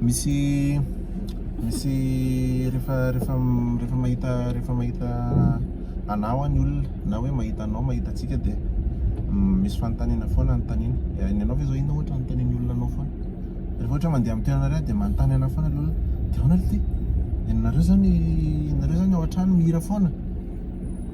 Misy misy rehefa rehefa rehefa mahita rehefa mahita anao any olona na hoe mahita anao mahita antsika dia misy fanontaniana foana anontaniana dia ny anao ve zao inona ohatra anontanian'ny olona anao foana rehefa ohatra hoe mandeha amin'ny toerana iray dia manontany anao foana ilay olona dia ahoana ity dia nareo zany nareo zany ao an-trano mihira foana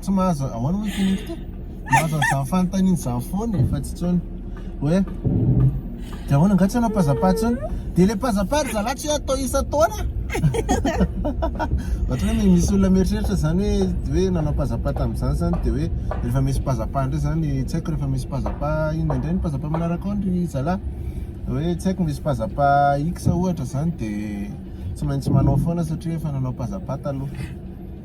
tsy mahazo ahoana moa ity nify ity mahazo an'izany fanontaniana izany foana e fa tsy intsony hoe dia ahoana angaha tsy hanao pazapa intsony dia ilay pazapa ry zalahy tsy hoe atao isan-taona ohatra hoe misy olona mieritreritra izany hoe hoe nanao pazapa tamin'izany izany dia hoe rehefa misy pazapa indray izany tsy haiko rehefa misy pazapa inona indray ny pazapa manaraka ao ry zalahy hoe tsy haiko misy pazapa X ohatra izany dia tsy maintsy manao foana satria efa nanao pazapa taloha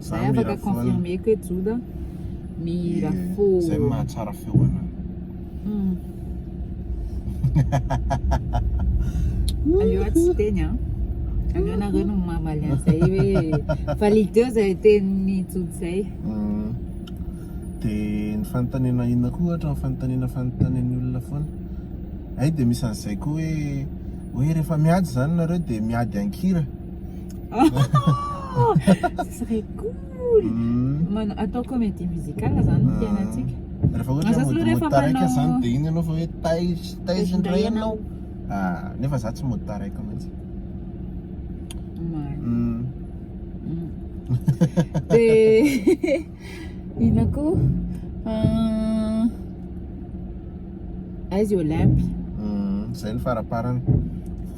Zay afaka confirmer ko hoe Joda Mirafo. Zay no mahatsara feo anao. Aleo aho tsy teny an. Aleo anareo no mamaly an'izay hoe fa lideo zay tenin'ny Joda zay. Mm. Dia ny fanontaniana inona koa ohatra ny fanontaniana fanontanian'ny olona foana. Hay dia misy an'izay koa hoe hoe rehefa miady izany nareo dia miady an-kira. Ce serait cool Mana- Atao comédie musicale zany ny fiainantsika Rehefa ohatra Aza hoe mody rehefa mody taraiky manao- zany dia iny ianao fa hoe taiz- taiza indray ianao? Ah, nefa za tsy mody taraiky mihitsy. Marina. Mm. Mm. Dia inona koa Ah, aiza i Olympe Mm, Zay ny faraparany.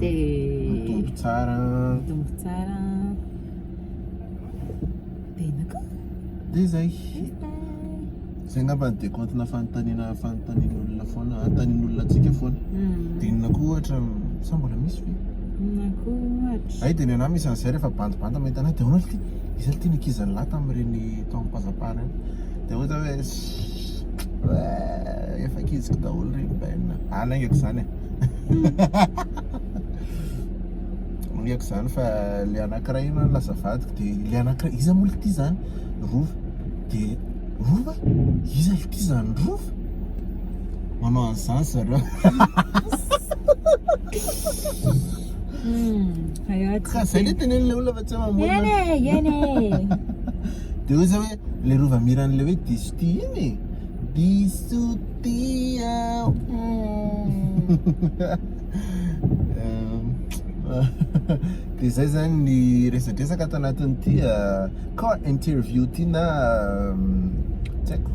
dia mitombo tsara mitombo tsara tena ka dia izay izay angamba ny dekontina fanontaniana fanontanian'olona foana anontanian'olona antsika foana hmm. dia inona koa ohatra sa mbola misy ve inona koa ohatra ay dia ny anah misy an'izay rehefa bandibandy mahita anay dia ahoana ity izay ity nikizan'ny lahy tamin'ireny taom-pazapana dia ohatra hoe efa kiziko daholo ireny bainina any aingako izany e Moriako zany fa le anakiray aloha lasa vadiko de le anakiray iza moa ity zany rova de rova iza ity zany rova manao an'izany zareo ka zay le teneniny le olona fa tsy mamorona de ozy hoe le rova miran'le hoe diso tia iny e diso Tia Dia zay zany ny resadresaka ato anatin'ity car interview ity na tsy haiko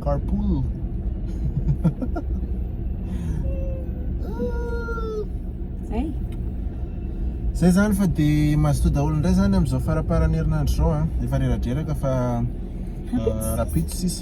carpool Zay Zay zany fa dia mazotoa daholo indray zany amin'izao faraparan'ny herinandro izao an, efa reradreraka fa rahampitso sisa.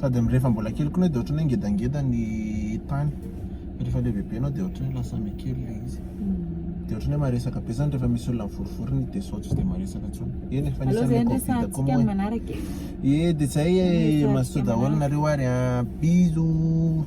Sady amin'ny rehefa mbola kely koa ianao dia ohatran'ny hoe ngedangeda ny tany, fa rehefa lehibebe ianao dia ohatran'ny hoe lasa mikely ilay izy. Dia ohatran'ny hoe maresaka be izany rehefa misy olona mivorivory ny dia sao tsy dia maresaka intsony. Eny e, fa nisy an'ilay covid koa moa e. Ee, dia izay e, mazotoa daholo nareo ary an, bisous.